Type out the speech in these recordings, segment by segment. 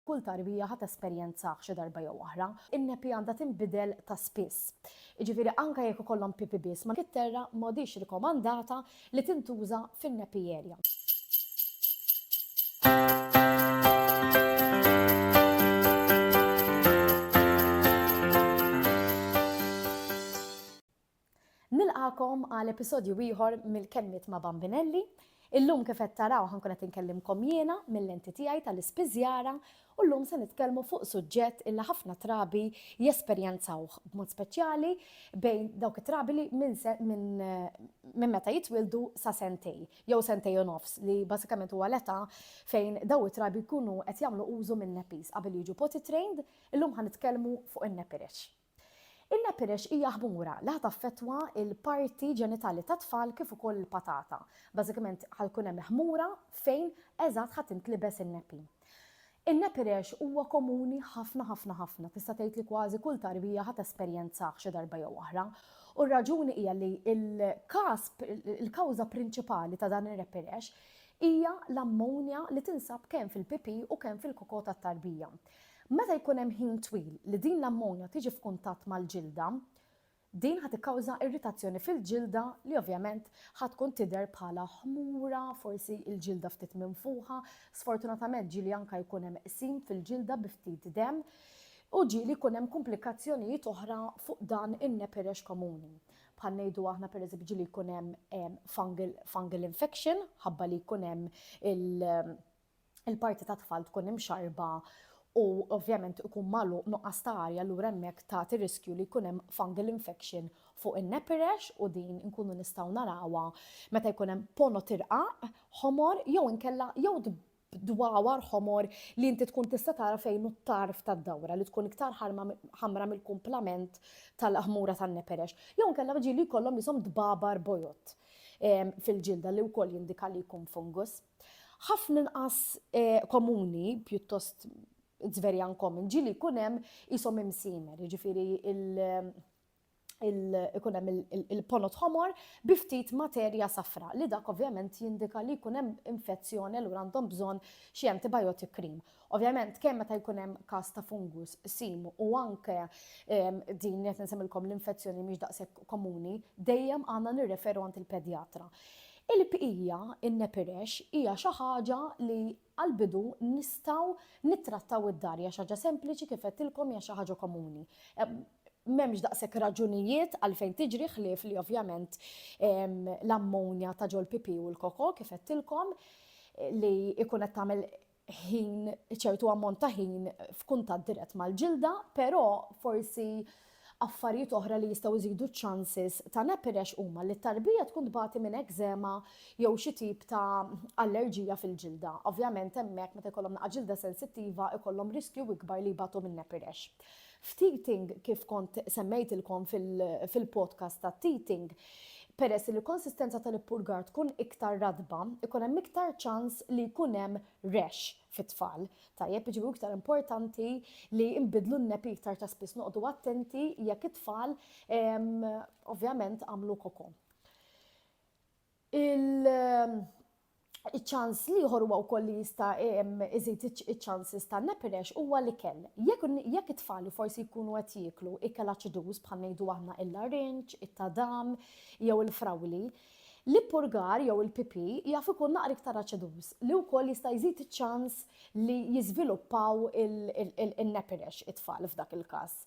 Kull tarbija ħa tesperjenzah xi darba jew oħra. In-nepi għandha tinbidel ta' spiss. Jiġifieri anke jekk ikollhom pipi biss ma' kitterra m'għadhiex rikomandata li tintuża fin-nepi area. Nilqagħkom għal episodju ieħor mill-Kelmiet ma' Bambinelli. Illum kif qed taraw ħa nkun qed inkellimkom jiena mil-lenti tiegħi tal-ispiżjara u llum se nitkellmu fuq suġġett illi ħafna trabi jesperjenzawh b'mod speċjali bejn dawk it-trabi li minn se minn minn meta jitwieldu sa sentej jew sentej u nofs li bażikament huwa l-età fejn daw it-trabi jkunu qed jagħmlu użu min-nappies qabel jiġu potty trained, illum ħa nitkellmu fuq in-nappy rash. Il-leperish hija ħmura li ħa taffettwa l-parti ġenitali tat-tfal kif ukoll il-patata. Bażikament ħa jkun hemm ħmura fejn eżatt ħa tintlibes in-nepi. In-nepi rash huwa komuni ħafna ħafna ħafna, tista' tgħid li kważi kull tarbija ħa tesperjenzah xi darba jew oħra. U r-raġuni hija li l-każ, il-kawża prinċipali ta' dan ir-repi rash hija l-ammonja li tinsab kemm fil-pipì u kemm fil-koko tat-tarbija. Meta jkun hemm ħin twil li din l-ammonja tiġi f'kuntatt mal-ġilda, din ħa tikkawża irritazzjoni fil-ġilda li ovvjament ħa tkun tidher bħala ħmura, forsi l-ġilda ftit minfuħa, sfortunatament ġieli anke jkun hemm qsim fil-ġilda bi ftit demm, u ġieli jkun hemm kumplikazzjonijiet oħra fuq dan in-nepirex komuni. Bħal ngħidu aħna pereżempju ġieli jkun hemm fungal, fungal infection ħabba li jkun hemm il- il-parti tat-tfal tkun imxarrba u ovvjament ikun magħluq nuqqas ta' arja allura hemmhekk tagħti riskju li jkun hemm fungal infection fuq in-nepirex u din inkunu nistgħu narawha meta jkun hemm pono tirqaq ħomor jew inkella jew dwawar ħomor li inti tkun tista' tara fejn hu t-tarf tad-dawra li tkun iktar ħamra mill-kumplament tal-ħmura tan-neperex. Jew inkella ġieli jkollhom jisom dbabar bojod fil-ġilda li wkoll jindika li jkun fungus. Ħafna inqas komuni, pjuttost it's very uncommon, ġili jkun hemm isom imsimer, jiġifieri ikun hemm il-ponot ħomor bi ftit materja safra li dak ovvjament jindika li jkun hemm infezzjoni allura għandhom bżonn xi antibiotic cream. Ovvjament, kemm meta jkun hemm każ ta' fungus sim u anke din qed insemmilkom l-infezzjoni mhix daqshekk komuni, dejjem għandna nirreferu għand il-pedjatra. Il-bqija, in-nepirex, hija xi ħaġa li għall-bidu nistgħu nittrattaw id-dar, hija xi ħaġa sempliċi kif għedtilkom hija xi ħaġa komuni. M'hemmx daqshekk raġunijiet għalfejn tiġri ħlief li ovvjament l-ammonja ta' ġol-pipì u l-koko kif għedtilkom li jkun qed tagħmel ħin, ċertu ammont ta' ħin f'kuntatt dirett mal-ġilda, però forsi affarijiet oħra li jistgħu jżidu ċ-chances ta' nepirex huma li t-tarbija tkun tbati minn ekżema jew xi tip ta' allerġija fil-ġilda. Ovvjament hemmhekk meta jkollhom naqa' ġilda sensittiva jkollhom riskju ikbar li jbatu minn nepirex. F'Teething, kif kont semmejtilkom fil-podcast ta' Teething, peress li l-konsistenza tal-ippurgar tkun iktar ratba, ikun hemm iktar ċans li jkun hemm rash fit-tfal. Tajjeb, jiġifieri hu iktar importanti li nbiddlu n-nepi iktar ta' spiss, noqogħdu attenti jekk it-tfal ovvjament għamlu koko. Il- ċans liħor huwa wkoll li jista' iżid iċ-ċansis ta' nepirex huwa l-ikel. Jekk it-tfal forsi jkunu qed jieklu ikel aċiduż bħal ngħidu aħna il-larinġ, it-tadam jew il-frawli, l-ippurgar jew il-pipì jaf ikun naqra iktar aċiduż li wkoll jista' jżid iċ-ċans li jiżviluppaw in-nepirex it-tfal f'dak il-każ.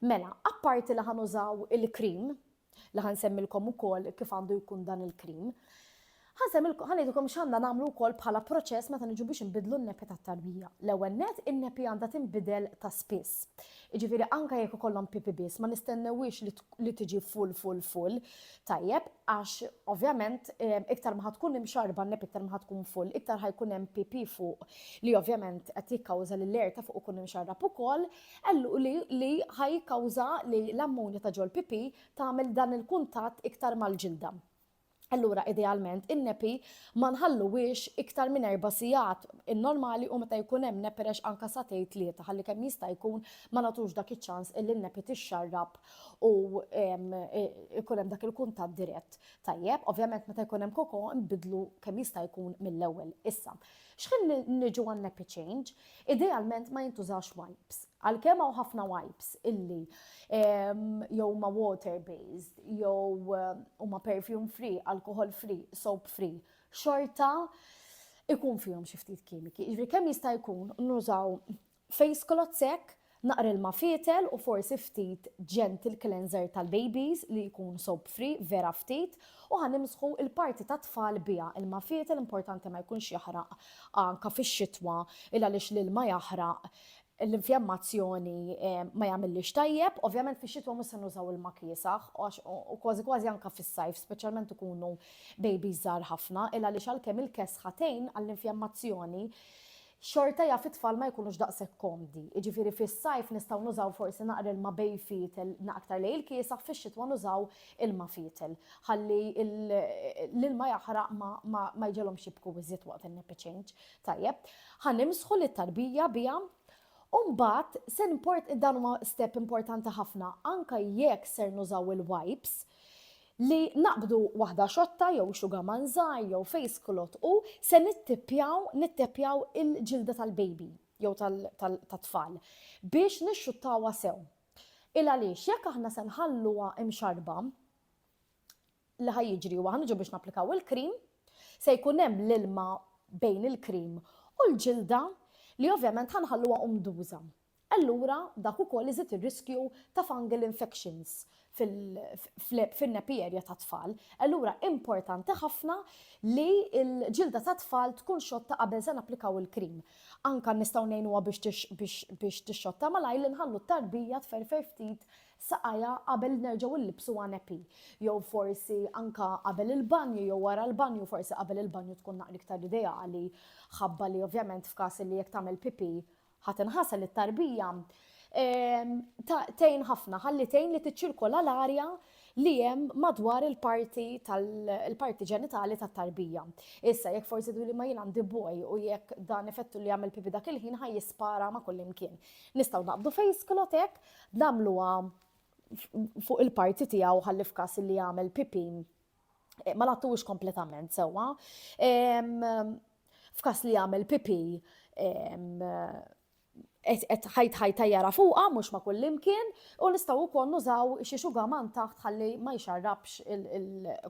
Mela, apparti li ħa nużaw il-cream, li ħa nsemmilkom ukoll kif għandu jkun dan il-cream, ħa ngħidilkom x'għandna nagħmlu wkoll bħala proċess meta niġu biex inbidlu n-nepi tat-tarbija. L-ewwel nett, in-nepi għandha tinbidel ta' spiss. Jiġifieri anke jekk ikollhom pipi biss, ma nistennewhiex li tiġi full full full, tajjeb, għax ovvjament ehm, iktar ma ħa tkun imxarba n-nepi iktar ma ħa tkun full, iktar ħa jkun hemm pipi fuq li ovvjament qed jikkawża li l-air ta' fuq ikun imxarrab ukoll, Qal li ħa jikkawża li l-ammonja ta' ġol-pipì tagħmel dan il-kuntatt iktar mal-ġilda. Allura idealment in-nepi ma nħalluhiex iktar minn erba' sigħat, in-normali hu meta jkun hemm neperex anke sagħtej tlieta ħalli kemm jista' jkun ma nagħtux dak iċ-ċans illi n-nepi tixxarrab u jkun hemm dak il-kuntatt dirett. Tajjeb, ovvjament meta jkun hemm koko nbiddlu kemm jista' jkun mill-ewwel. Issa, Xħin li niġu għan-nappy-change, idealment ma jintużawx wipes. Għalkemm hawn ħafna wipes illi jew huma water-based, jew huma perfume-free, alcohol-free, soap-free, xorta ikun fihom xi ftit kimiki. Jiġifieri kemm jista' jkun nużaw Face cloth sekk, naqra ilma fietel u forsi ftit gentle cleanser tal-babies li jkun soap free, vera ftit, u ħa nimsħu l-parti tat-tfal biha. Ilma fietel importanti ma jkunx jaħraq anka fix-xitwa il għaliex l-ilma jaħraq l-infjammazzjoni ma jagħmillhiex tajjeb. Ovvjament fix-xitwa mhux se nużaw ilma kiesaħ għax u kważi kważi anka fis-sajf speċjalment ikunu babies żgħar ħafna il għaliex għalkemm il-kesħa tgħin għall-infjammazzjoni xorta jaf it-tfal ma jkunux daqshekk komdi. Jiġifieri fis-sajf nistgħu nużaw forsi naqra ilma bejn fietel aktar lejn il-kiesaħ, fix-xitwa nużaw ilma fietel ħalli l-ilma jaħraq ma jġegħlhomx jibku iżjed waqt in-nappy change. Tajjeb, ħa nimsħu lit-tarbija biha u mbagħad se dan huwa step importanti ħafna anke jekk ser nużaw il-wipes, Li naqbdu waħda xotta jew xugaman żgħir jew face cloth u se nittippjaw, nitteppjaw il-ġilda tal-baby jew tat-tfal biex nixxuttawha sew. Il-għaliex jekk aħna se nħalluha imxarrba, li ħa jiġri huwa ħa niġu biex napplikaw il-cream, se jkun hemm l-ilma bejn il-cream u l-ġilda li ovvjament ħa nħalluha umduża. Allura dak ukoll iżid ir-riskju ta' fungal infections fin-nappy area tat-tfal. Allura importanti ħafna li l-ġilda tat-tfal tkun xotta qabel se napplikaw il-cream. Anke nistgħu ngħinuha biex tixxotta malajr li nħallu t-tarbija tferfer ftit saqajha qabel nerġgħu nlibbsuha nappy. Jew forsi anke qabel il-banju jew wara l-banju, forsi qabel il-banju tkun naqra iktar ideali ħabba li ovvjament f'każ li jekk tagħmel pipì Ħa tinħasel li t-tarbija ehm, tgħin ħafna ħalli tgħin li tiċċirkola l-arja li jem madwar il-parti tal-parti ġenitali tat tarbija. Issa, jekk forsi li ma jien għandi boj u jekk dan effettu li għamil pipi dak il-ħin ħaj jispara ma kullimkien. Nistaw naqbdu fejs klotek, namluwa fuq il-parti tijaw ħallif kas li għamil pipi eh, ma lattux kompletament sewwa. F'kas li jagħmel pipi qed ħajt ħajta jara fuqha mhux ma' kull imkien u nistgħu wkoll nużaw xi xugaman taħt ħalli ma jxarrabx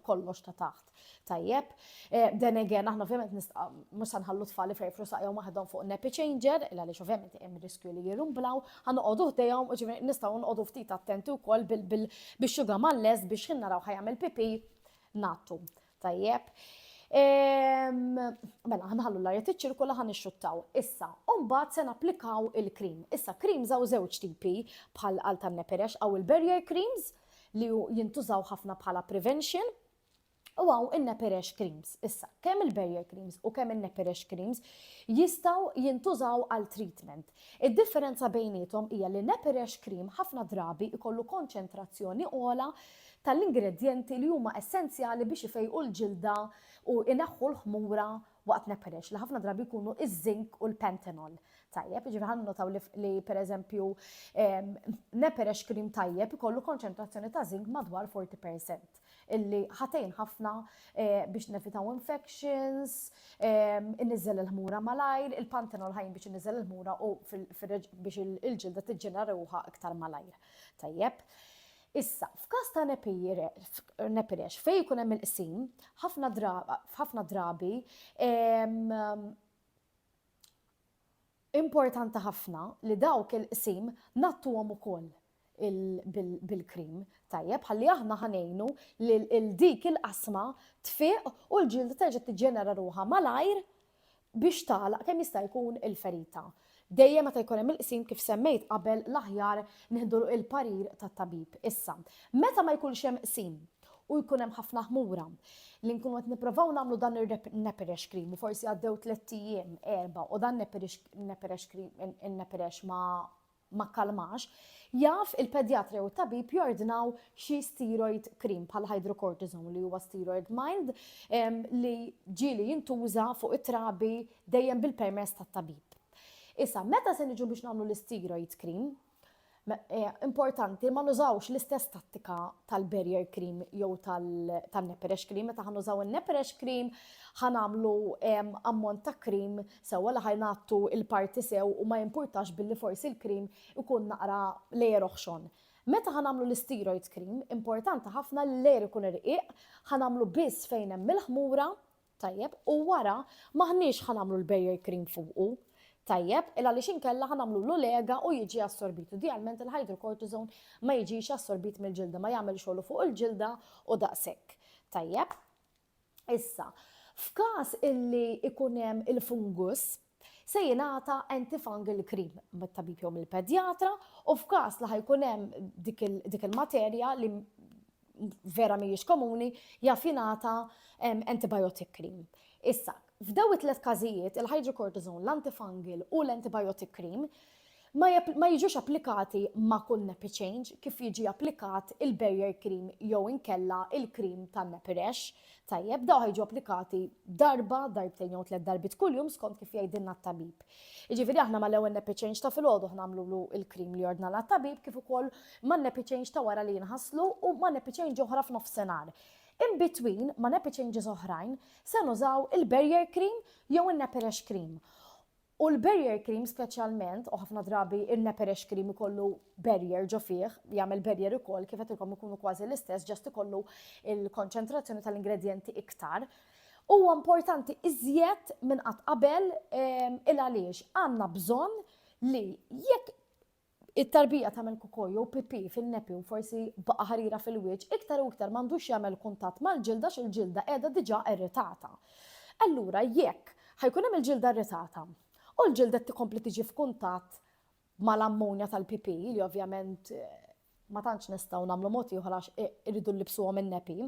kollox ta' taħt. Tajjeb, eh, then again aħna ovvjament mhux se nħallu tfal ifrejfru saqjhom waħedhom fuq nepi changer, il għaliex ovvjament hemm riskju li jirumblaw Ħa noqogħdu ħdejhom, jiġifieri nistgħu noqogħdu ftit attenti wkoll bix-xuga mal-lest biex ħin naraw ħajamel pipi nattu. Tajjeb. Ehm, mela, ħanħallu l-arja tiċċirkula ħan ixxuttaw. Issa, umbat se napplikaw il-krim. Issa, krim zaw żewġ tipi bħal għal tan-neperex għaw il-barrier creams li jintużaw ħafna bħala prevention U għaw il-neperex creams. Issa, kemm il-barrier creams u kemm il-neperex creams jistaw jintużaw għal treatment. Id-differenza bejnietom hija li neperex cream ħafna drabi ikollu konċentrazzjoni ola tal-ingredienti li huma essenzjali biex ifejqu l-ġilda u inaħħu l-ħmura waqt neperex li ħafna drabi jkunu iż-zinc u l-pentanol. Tajjeb, ġifri ħan notaw li per eżempju neperex cream tajjeb ikollu konċentrazzjoni ta' zinc madwar 40%. illi ħa tgħin ħafna biex nevitaw infections, inniżżel il-ħmura malajr, il-panthenol ħa jgħin biex inniżżel il-ħmura u biex il-ġilda tiġġenera ruħha iktar malajr. Tajjeb. Issa, f'każ ta' nepirex fejn ikun hemm il-qsim, ħafna drabi Importanti ħafna li dawk il-qsim ngħattuhom ukoll bil-cream tajjeb ħalli aħna ħa ngħinu lil dik il-qasma tfiq u l-ġilda terġa' tiġġenera ruħha malajr biex tagħlaq kemm jista' jkun il-ferita. Dejjem meta jkun hemm il-qsim kif semmejt qabel l-aħjar nieħdu l-parir tat-tabib. Issa, meta ma jkunx hemm qsim, u jkun hemm ħafna ħmura li nkunu qed nipprovaw nagħmlu dan ir-nepirex cream u forsi għaddew tliet ijiem erba' u dan nepirex cream in-nepirex ma ma kalmax, jaf il-pedjatri u tabib jordnaw xi steroid cream bħal hydrocortisone li huwa steroid mild li ġieli jintuża fuq it-trabi dejjem bil-permess tat-tabib. Issa, meta se niġu biex nagħmlu l-steroid cream, Importanti ma nużawx l-istess tattika tal-barrier cream jew tal-neperex cream. Meta ħan nużaw il-neperex cream, ħan għamlu ammont ta' cream sewa li ħajn għattu il-parti sew u ma jimpurtax billi forsi l-cream ikun naqra lejer oħxon. Meta ħan għamlu l-steroid cream, importanti ħafna li lejer ikun irqiq, ħan għamlu biss fejn hemm il-ħmura Tajjeb, u wara m'aħniex ħa nagħmlu l-barrier cream fuqu. Tajjeb, il għaliex inkella ħa nagħmlu l-olega u jiġi assorbit. Idealment il-hydrocortisone ma jiġix assorbit mill-ġilda, ma jagħmel xogħlu fuq il-ġilda u daqshekk. Tajjeb? Issa, F'każ illi ikun hemm il-fungus, se jingħata antifungal cream mit-tabib jew mill-pedjatra u f'każ li ħajkun hemm dik il-materja li vera mhijiex komuni jaf jingħata antibiotic cream. Issa, f'daw it-tliet każijiet, il-hydrocortisone, l-antifungal u l-antibiotic cream, ma jiġux applikati ma' kull nappy change kif jiġi applikat il-barrier cream jew inkella il-cream tan-nappy rash. Tajjeb, dawk jiġu applikati darba, darbtejn jew tliet darbiet kuljum skont kif jgħidilna t-tabib. Jiġifieri aħna mal-ewwel nappy change ta' filgħodu aħna nagħmlulu l-cream li ordnalna t-tabib kif ukoll man-nappy change ta' wara li jinħaslu u ma' nappy change oħra f'nofsinhar. In between, ma' nappy changes oħrajn, se nużaw il-barrier cream jew in-nappy rash cream. U l-barrier cream speċjalment, u ħafna drabi il-neperex cream ikollu barrier ġo fih, jagħmel barrier ukoll kif qedtilkom ikunu kważi l-istess, ġast ikollu il-konċentrazzjoni tal-ingredjenti iktar. Huwa importanti iżjed minn qatt qabel ehm, il għaliex għandna bżonn li jekk It-tarbija tagħmel kukò jew pipì fin-nepi u forsi baqgħa ħarira fil-wiċċ, iktar u iktar m'għandux jagħmel kuntatt mal-ġilda għax il-ġilda qiegħda diġà irritata. Allura jekk ħa jkun hemm il-ġilda irritata u l-ġilda qed tkompli tiġi f'kuntatt mal-ammonja tal-pipì li ovvjament ma tantx nistgħu nagħmlu mod ieħor għax irridu nlibbsuhom in-nepi,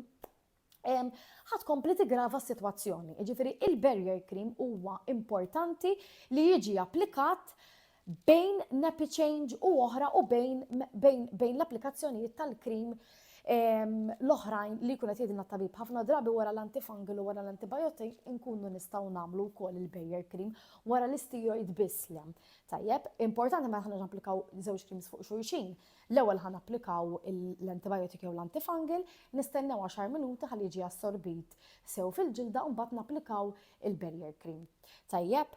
ħa tkompli tiggrava s-sitwazzjoni. Jiġifieri il-barrier cream huwa importanti li jiġi applikat bejn nappy change u oħra u bejn, bejn, bejn l-applikazzjonijiet tal-krim l-oħrajn li jkun qed jgħidilna tabib ħafna drabi wara l-antifungal u wara l-antibiotic inkunu nistgħu nagħmlu wkoll il-barrier cream wara l-isteroid biss li hemm. Tajjeb, importanti ma aħna napplikaw żewġ creams fuq xulxin, L-ewwel ħa napplikaw l-antibiotic jew l-antifungal, nistennew għaxar minuti ħalli jiġi assorbit sew fil-ġilda u mbagħad napplikaw il-barrier cream. Tajjeb?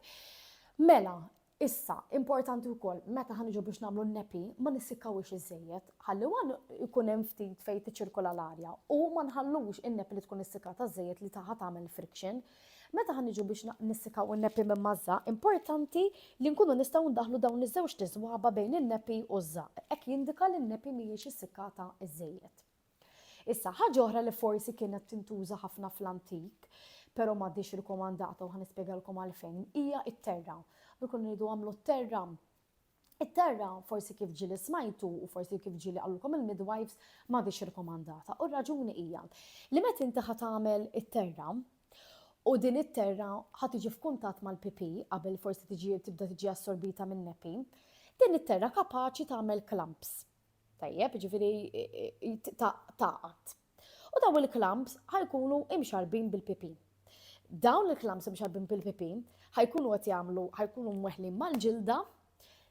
Mela, Issa, importanti wkoll, meta ħa niġu biex nagħmlu n-nepi, ma nissikkawiex iżejjed, ħalli wan ikun hemm ftit fejn tiċirkola l-arja u ma nħallux in-nepi li tkun issikkata żejjed li taħa tagħmel friction, Meta ħa niġu biex nissikaw in-nepi minn maż-ża, importanti li nkunu nistgħu ndaħħlu dawn iż-żewġ tiżwaba bejn in-nepi u ż-żaq, hekk jindika li n-nepi mhijiex issikkata iżżejjed. Issa, ħaġa oħra li forsi kienet tintuża ħafna fl-antik, però m'għadhiex rikomandata u ħa nispjegalkom għalfejn, hija t-terra. Dukun iridu għamlu t-terra It-terra, forsi kif ġieli smajtu u forsi kif ġieli qalulkom il-midwives, m'għadhiex irkomandata. U r-raġuni hija li meta inti ħa tagħmel it-terra, u din it-terra ħa tiġi f'kuntatt mal-pipi qabel forsi tiġi tibda tiġi assorbita minn nepi, din it-terra kapaċi tagħmel klamps. Tajjeb, ġifieri taqgħat, U dawn il-klamps ħajkunu imxarbin bil-pipin. Dawn il-klamps imxarbin bil-pipin ħajkunu qed jagħmlu ħajkunu mweħlin mal-ġilda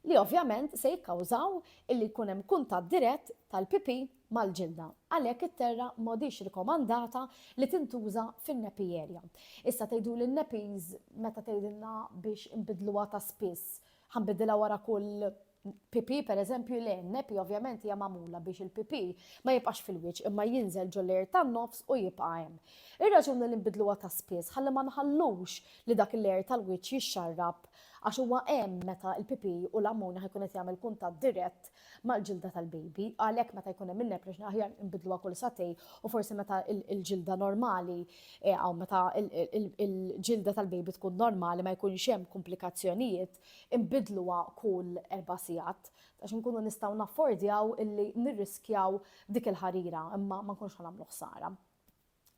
li ovvjament se jikkawżaw illi jkun hemm kuntatt dirett tal-pipi mal-ġilda. Għalhekk it-terra m'għadix rikomandata li tintuża fin-nepi area. Issa tgħidu li n-nepis meta tgħidilna biex inbidluha ta' spiss, ħanbidilha wara kull PP, per eżempju, le, nepi ovvjament hija magħmula biex il-PP ma jibqax fil-wiċċ imma jinżel ġoller tan-nofs u jibqa' hemm. Ir-raġuni li nbidluha ta' spiss ħalli ma nħallux li dak il-layer tal-wiċċ jixxarrab għax huwa hemm meta l-PP u l-ammoni ħajkun qed jagħmel kuntatt dirett mal-ġilda tal-baby, għalhekk meta jkun hemm in-neprex aħjar nbidluha kull satej u forsi meta l-ġilda normali eh, għaw meta l-ġilda tal-baby tkun normali ma jkunx hemm komplikazzjonijiet inbiddluha kull erba' sigħat, għax inkunu nistgħu naffordjaw illi nirriskjaw dik il-ħarira, imma ma nkunux ħa nagħmlu ħsara.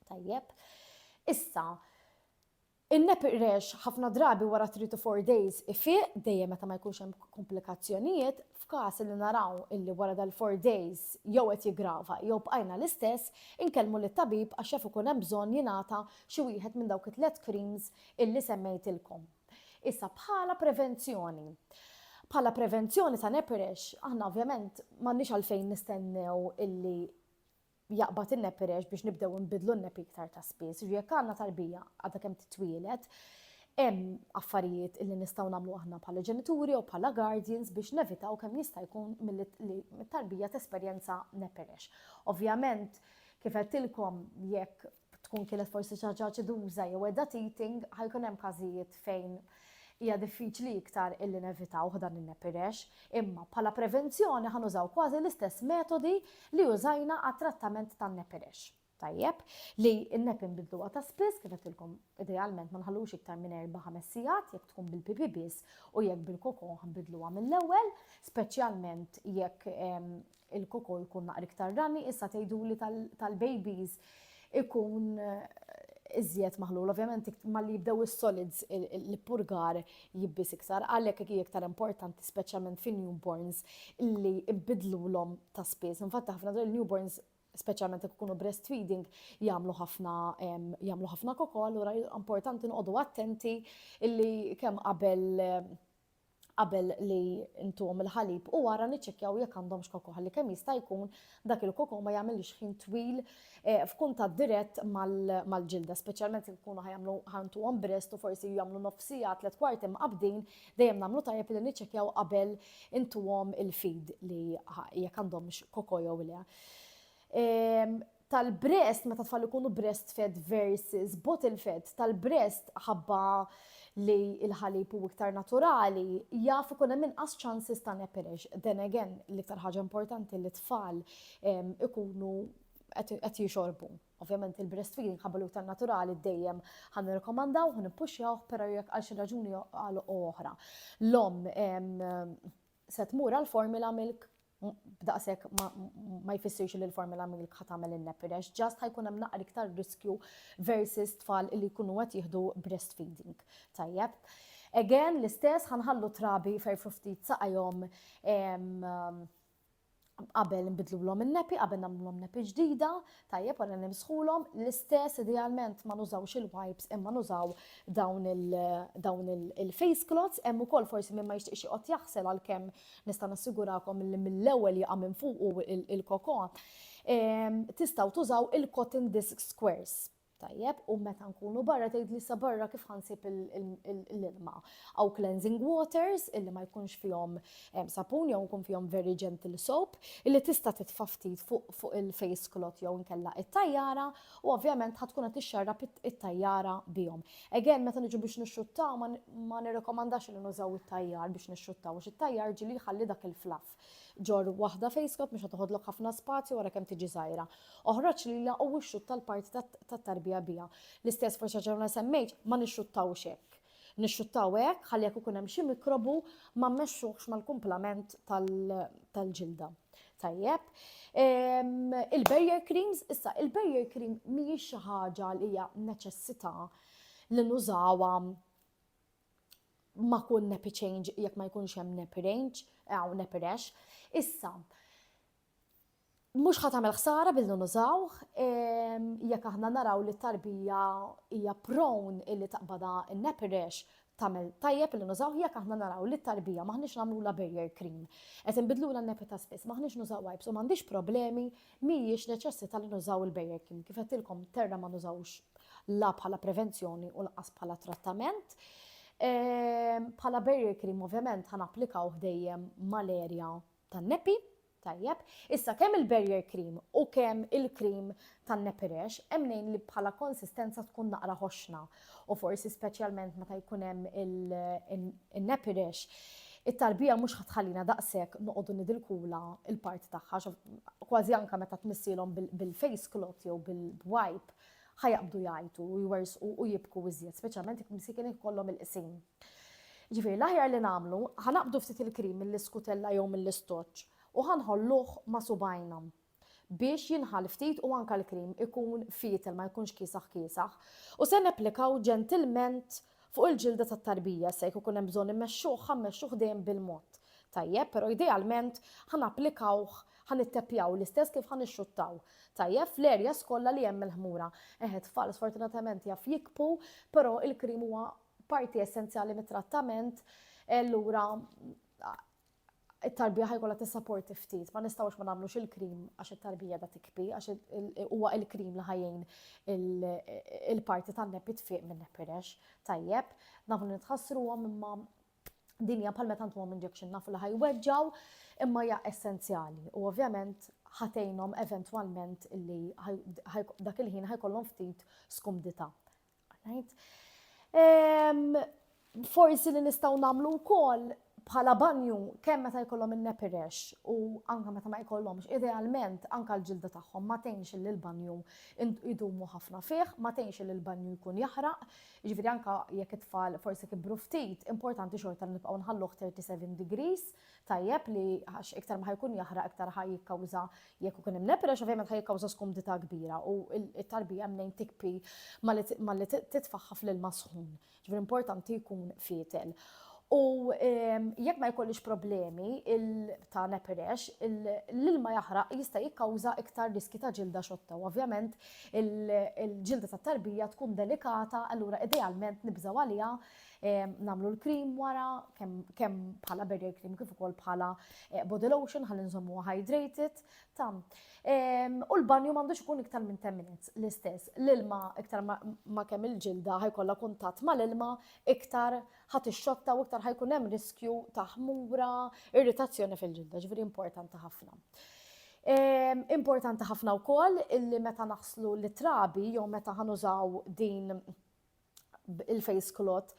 Tajjeb. Issa, in-nep iqrex ħafna drabi wara three to four days ifiq, dejjem meta ma jkunx hemm komplikazzjonijiet, f'każ li naraw illi wara dal-four days jew qed jiggrava jew bqajna l-istess, inkellmu lit-tabib għax jaf ikun hemm bżonn jingħata xi wieħed minn dawk it-tliet creams illi semmejtilkom. Issa bħala prevenzjoni. Bħala prevenzjoni ta' nepirex, aħna ovvjament m'għandniex għalfejn nistennew illi jaqbad in-nepirex biex nibdew nbidlu n-nepi iktar ta' spiss. Ġi jekk għandna tarbija għadha kemm titwielet, hemm affarijiet illi nistgħu nagħmlu aħna bħala ġenituri u bħala guardians biex nevitaw kemm jista' jkun mit-tarbija tesperjenza nepirex. Ovvjament, kif qedtilkom jekk tkun kienet forsi xi ħaġa aċiduża jew qiegħda teething, ħa jkun hemm każijiet fejn hija diffiċli iktar illi nevitawh dan in-nepirex, imma bħala prevenzjoni ħa nużaw kważi l-istess metodi li użajna għat-trattament tan-nepirex. Tajjeb, li n-nepi nbidluha ta' spiss kif qedtilkom idealment ma nħallux iktar minn erba' ħames sigħat jekk tkun bil-pipi biss u jekk bil-kokon ħanbidluha mill-ewwel, speċjalment jekk Il-koko jkun naqra iktar rani, issa tgħiduli tal-babies ikun iżjed maħlul. Ovvjament malli jibdew is-solids l-ippurgar jibbis iktar, għalhekk hija iktar importanti speċjalment fin-newborns li nbidlulhom ta' spiss. Infatti ħafna drabi newborns speċjalment jekk ikunu breastfeeding jagħmlu ħafna jagħmlu ħafna koko, allura importanti noqogħdu attenti illi kemm qabel qabel li ntuhom il-ħalib u wara niċċekkjaw jekk għandhomx koko ħalli kemm jista' jkun dak il-koko ma jagħmilx ħin twil eh, f'kuntatt dirett mal-ġilda, speċjalment jekk ikunu ħajamlu ħantuhom brest u forsi jagħmlu nofsija tliet kwarti mqabdin dejjem nagħmlu tajjeb li niċċekkjaw qabel intuhom il-feed li jekk għandhomx koko jew le. Ehm, tal-breast meta tfal ikunu breastfed versus bottle fed tal-breast ħabba li l-ħalib u iktar naturali jaf ikun hemm inqas chances ta' nepirix. Then again, l-iktar ħaġa importanti li tfal ikunu qed jixorbu. Ovvjament il-breastfeeding ħabba li iktar naturali dejjem ħan nirkomandaw, ħan nippuxjaw, però jekk għal xi raġuni għal oħra. L-om se tmur għal formula milk b'daqshekk ma jfissirx li l-formula milk ħa tagħmel in-nepirex, ġast ħajkun hemm naqra iktar riskju versus tfal li jkunu qed jieħdu breastfeeding. Tajjeb. Again, l-istess ħanħallu trabi ferfru ftit saqajhom qabel nbidlulhom in-nepi, qabel nagħmlulhom nepi ġdida, tajjeb wara nimsħulhom, l-istess idealment ma nużawx il-wipes imma nużaw dawn il-face cloths, hemm ukoll forsi minn ma jixtieqx joqgħod jaħsel għalkemm nista' nassigurakom li mill-ewwel jaqa' minn fuq il-koko. Ehm, tistgħu tużaw il-cotton disc squares. Tajjeb, u meta nkunu barra tgħidli sa barra kif ħansib l-ilma. Aw cleansing waters illi ma jkunx fihom eh, sapun jew nkun fihom very gentle soap illi tista' titfa' ftit fuq il-face cloth jew nkella it-tajjara u ovvjament ħad tkun qed tixxarra it-tajjara bihom. Again meta niġu biex nixxuttaw ma nirrekomandax li nużaw it-tajjar biex nixxuttaw għax it-tajjar ġili jħalli dak il-flaff. Ġorr waħda fejskop mhux qed toħodlok ħafna spazju wara kemm tiġi żgħira. Oħroġ lilha u ixxutta l-parti tat-tarbija biha. L-istess proċedur li semmejt ma nixxuttawhx hekk. Nixxuttaw hekk ħalli jekk ikun hemm xi mikrobu ma mmexxuhx mal-kumplament tal-ġilda. Tajjeb. Ehm, il-barrier creams, issa il-barrier cream mhijiex xi ħaġa li hija neċessità li nużawha ma kun nepi change jekk ma jkunx hemm nepi range, għaw nepi rex. Issa, mux ħatamel ħsara billi nużaw, jekk aħna naraw li tarbija hija prone illi taqbada nepi rex, tamel tajjeb li nużaw jekk aħna naraw li tarbija maħniex namlu la barrier cream. Et nbidlu la nepi ta' spiss, maħniex nużaw wipes u m'għandix problemi Mhijiex neċessita li nużaw il-bejjekim. Kif għedtilkom terra ma nużawhux la bħala prevenzjoni u lanqas bħala trattament. Bħala barrier cream ovvjament ħa napplikawh dejjem mal-erja tan-nepi, Tajjeb, issa kemm il-barrier cream u kemm il-cream tan-nepirex hemm nejn li bħala konsistenza tkun naqra ħoxna. u forsi speċjalment meta jkun hemm il-nepirex, it-tarbija mhux ħatħallina daqshekk noqogħdu nidilkula il-parti tagħha, kważi anke meta tmissilhom bil-face cloth jew bil-wipe, ħajaqbdu jgħajtu u jwersqu u jibku iżjed, speċjalment jekk msikin ikollhom il-qsim. Ġifieri l-aħjar li nagħmlu, ħanaqbdu ftit il-krim mill-iskutella jew mill-istoċċ u ħanħolluh ma' subajna. biex jinħall ftit u anke l-cream ikun fietel ma jkunx kiesaħ kiesaħ u se napplikaw ġentilment fuq il-ġilda tat-tarbija se jekk ikun hemm bżonn immexxuh ħa mmexxuh dejjem bil-mod tajjeb però idealment ħa napplikawh ħa nitteppjaw l-istess kif ħa nixxuttaw tajjeb fl-areas kollha li hemm il-ħmura. Eħ it-tfal sfortunatament jaf jikbu però il-cream huwa parti essenzjali mit-trattament e allura It-tarbija ħa jkollha tissaporti ftit, ma nistgħux ma nagħmlux il-cream għax it-tarbija qiegħda tikbi għax huwa il-cream li ħa jgħin il-parti tan-neppi tfieq min-neppi rex. Tajjeb, nafu li nitħassruhom imma din hija bħal meta ntuhom injection nafu li ħa jweġġgħu imma hija essenzjali u ovvjament ħa tgħinhom eventwalment li dak il-ħin ħa jkollhom ftit skumdità. Forsi li nistgħu nagħmlu wkoll bħala banju kemm meta jkollhom in-nepirex u anke meta ma jkollhomx, idealment anke l-ġilda tagħhom ma tgħinx li l-banju idumu ħafna fih, ma tgħinx li l-banju jkun jaħraq, jiġifieri anke jekk it-tfal forsi kibru ftit, importanti xorta li nibqgħu nħalluh 37 degrees tajjeb li għax iktar ma ħajkun jaħraq iktar ħaj jikkawża jekk ikun hemm lepre ovvjament ħaj jikkawża skumdità kbira u t-tarbija mnejn tikpi malli titfaħħa fl-ilma sħun. Ġifier importanti jkun fietel. U ehm, jekk ma jkollix problemi ta' neperex, l-ilma jaħraq jista' jikkawża iktar riski ta' ġilda xotta. U ovvjament il-ġilda tat tarbija tkun delikata, allura idealment nibżaw għaliha Nagħmlu l-cream wara kemm bħala barrier cream kif ukoll bħala eh, body lotion ħalli nżommu hydrated. Tam. U l-banju m'għandux ikun iktar minn 10 minutes l-istess. L-ilma iktar ma kemm il-ġilda ħajkollha kuntatt mal-ilma iktar ħat ix-xotta u iktar ħajkun hemm riskju ta' ħmura, irritazzjoni fil-ġilda, ġifieri importanti ħafna. Importanti ħafna wkoll illi meta naħslu l-trabi jew meta ħanużaw din il-face clot,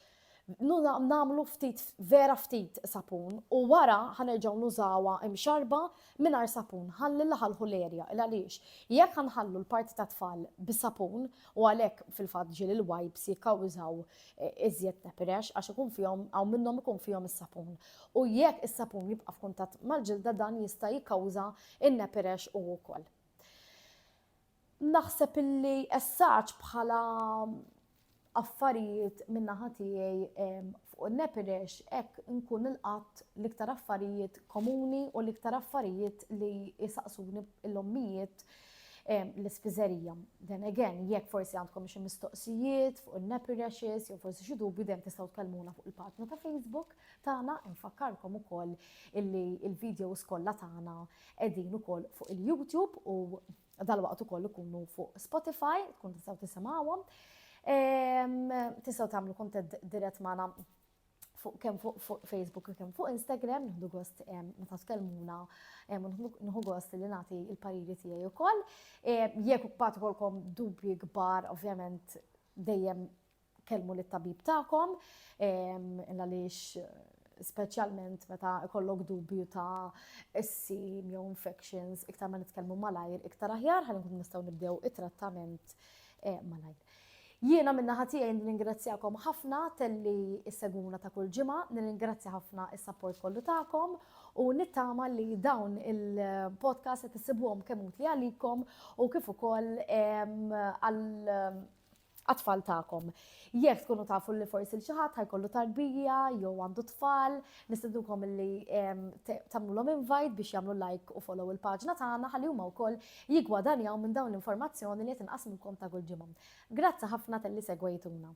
nagħmlu ftit vera ftit sapun u wara ħanerġgħu nużawha imxarba mingħajr sapun ħalli laħalħu l-erja il għaliex jekk ħanħallu l-parti ta' tfal bis-sapun u għalhekk fil-fatt ġiel il-wipes jikkawżaw eh, iżjed nepirex għax ikun fihom hawn minnhom ikun fihom is-sapun. U jekk is-sapun jibqa' f'kuntatt mal-ġilda dan jista' jikkawża in-nepirex u wkoll. Naħseb illi essaġġ bħala affarijiet min-naħa tiegħi fuq in-Nepirex hekk nkun ilqatt l-iktar affarijiet komuni u l-iktar affarijiet li jsaqsuni l-ommijiet l-ispiżerija. Then again, jekk forsi għandkom xi mistoqsijiet fuq in-Nepirexes jew forsi xi dubju dejjem tistgħu tkellmuna fuq il-paġna ta' Facebook tagħna, infakkarkom ukoll illi l-videos kollha tagħna Qegħdin ukoll fuq il-YouTube u dalwaqt ukoll ikunu fuq Spotify, tkun tistgħu tisimgħuhom. Ehm, tistgħu tagħmlu kuntatt dirett magħna fuq kemm fuq Facebook u kemm fuq Instagram, nħdu gost meta tkellmuna, nħu gost li nagħti il-pariri tiegħi wkoll. Jekk ukoll kolkom dubji kbar, ovvjament dejjem kellmu lit-tabib tagħkom għaliex speċjalment meta kollok dubju ta' issim jew infections, iktar ma nitkellmu malajr, iktar aħjar ħalli nkun nistgħu nibdew it-trattament eh, malajr. Jiena minna ħatija jien ningrazzjakom ħafna telli s-seguna ta' kull ġimgħa, ningrazzja ħafna is-sapport kollu tagħkom u nittama li dawn il-podcast qed issibuhom kemm utli għalikom u kif ukoll għal għat-tfal tagħkom. Jekk tkunu tafu li forsi l-xi ħadd ħajkollu tarbija jew għandu tfal, nistednukom li tagħmlulhom invite biex jagħmlu like u follow il-paġna tagħna ħalli huma wkoll jigwadanjaw minn dawn l-informazzjoni li qed inqasmulkom ta' kull ġimgħa. Grazzi ħafna talli segwejtuna.